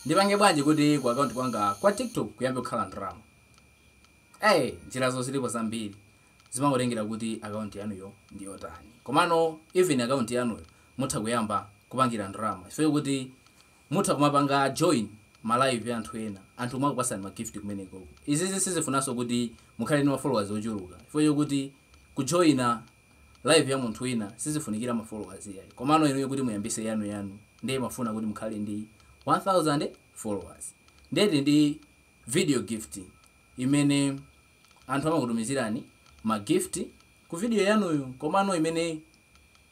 Ndipange bwanji kuti ku account kwanga kwa TikTok kuyambe kukhala ndalama? Eee njirazo zilipo zambiri zimangotengera kuti account yanuyo ndi yotani komano even account yanuyo mutha kuyamba kupangira ndalama chifukwa chokuti mutha kumapanga join ma live a anthu ena anthu kumakupatsani ma gift kumeneko. Izizi sizifunanso kuti mukhale ndi ma followers ochuluka chifukwa chokuti kujoina live ya munthu wina sizifunikira ma followers iyayi komano inuyo kuti muyambise yanu yanu nde imafuna kuti mukhale ndi 1000 followers nde tili ndi video gift imene anthu amakutumizirani ma gift ku video yanuyo komano imene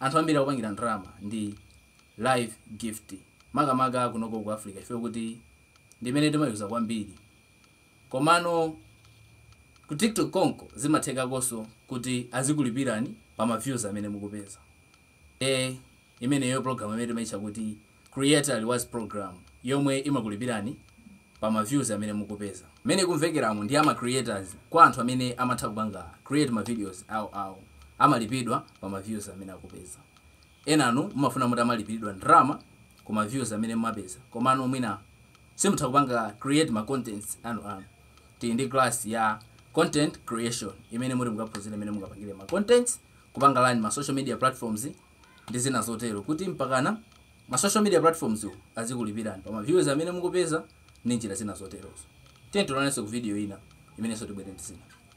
anthu ambiri akupangira ndalama ndi live gift makamaka kunoko ku africa chifukwa choti ndi imene timayuza kwambiri Komano ku tiktok konko zimathekanso kuti azikulipirani pa ma views amene mukupeza. Eee imeneyo program imene timaitcha kuti creator rewards program yomwe imakulipirani pa ma views amene mukupeza. Mmene ikumvekeramu ndi ya ma creators kwa anthu amene amatha kupanga create ma videos awo awo amalipidwa pa ma views amene akupeza. Enanu mumafuna muti muzilipiridwa ndalama ku ma views amene mumapeza komano mwina simutha kupanga create ma contents anu anu. Tili ndi class ya content creation imene muti mukaphunzire mmene mungapangire ma contents, kupanga run ma social media platforms ndi zina zotero kuti mpakana ma social media platforms wo azikulipirani pa ma views amene mukupeza ndi njira zina zoterozo. Tiyeni tionanenso ku video ina imenenso tibwere ndi zina.